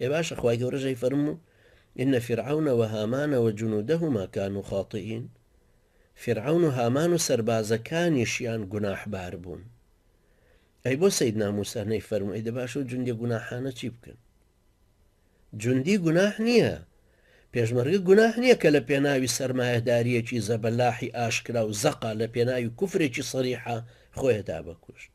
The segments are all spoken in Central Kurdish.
ئێ باشە خوای گەورە جەی فەرموو ان فرعون و هامان و جنودهما کانو خاطئین فیرعەون و هامان و سەربازەکانیشیان گوناح بار بوون ئەی بۆ سەیدنا موسا نەی فەرموو ئەی دە باشە و جوندی گوناحانە چی بکەن جوندی گوناح نییە پێشمەرگە گوناح نییە کە لە پێناوی سەرمایهداریەکی زەبەلاحی ئاشکرا و زەقا لە پێناوی کوفرێکی سەریحە خۆیدا بەکوشت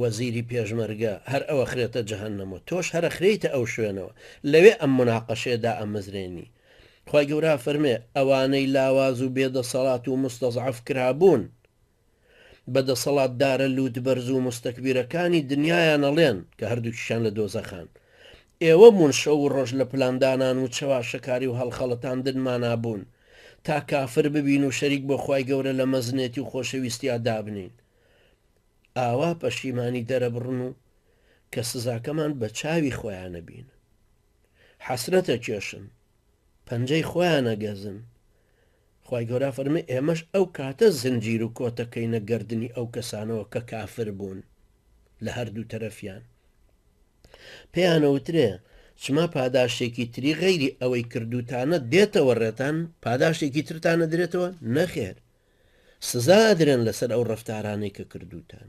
وەزیری پێشمەرگە، هەر ئەوەخرێتە جەهەنەم و تۆش هەر ئەخرێیتە ئەو شوێنەوە، لەوێ ئەم موناقەشەیە دائەمەزرێنی. خوای گەورە ئەفەرمێ، ئەوانەی لاواز و بێ دەسەڵات و موستەزعەف کرابوون، بە دەسەڵاتدارە لووتبەرز و موستەکبیرەکانی دنیایان ئەڵێن، کە هەردووکیشیان لە دۆزەخان، ئێوە بوون شەو و ڕۆژ لە پلاندانان و چەواشەکاری و هەڵخەڵەتاندنمانا بوون، تا کافر ببین و شەریک بۆ خوای گەورە لە مەزنێتی و خۆشەویستیا دابنێین. ئاوا پەشیمانی دەرەبڕن و کە سزاکەمان بە چاوی خۆیانە بینن حەسرەتە کێشن پەنجەی خۆیانە گەزن خی گەورە فەرمی ئێمەش ئەو کاتە زنجیر و کۆتەکەینە گردردنی ئەو کەسانەوە کە کافر بوون لە هەردوو تەرەفیان پێیانەوترێ چما پاداشتێکی تری غەیری ئەوەی کردوتانە دێتەوە ڕێتان پاداشتێکی ترتانە درێتەوە نەخێر سزا ئەدرێن لەسەر ئەو ڕەفتارانەی کە کردووتان.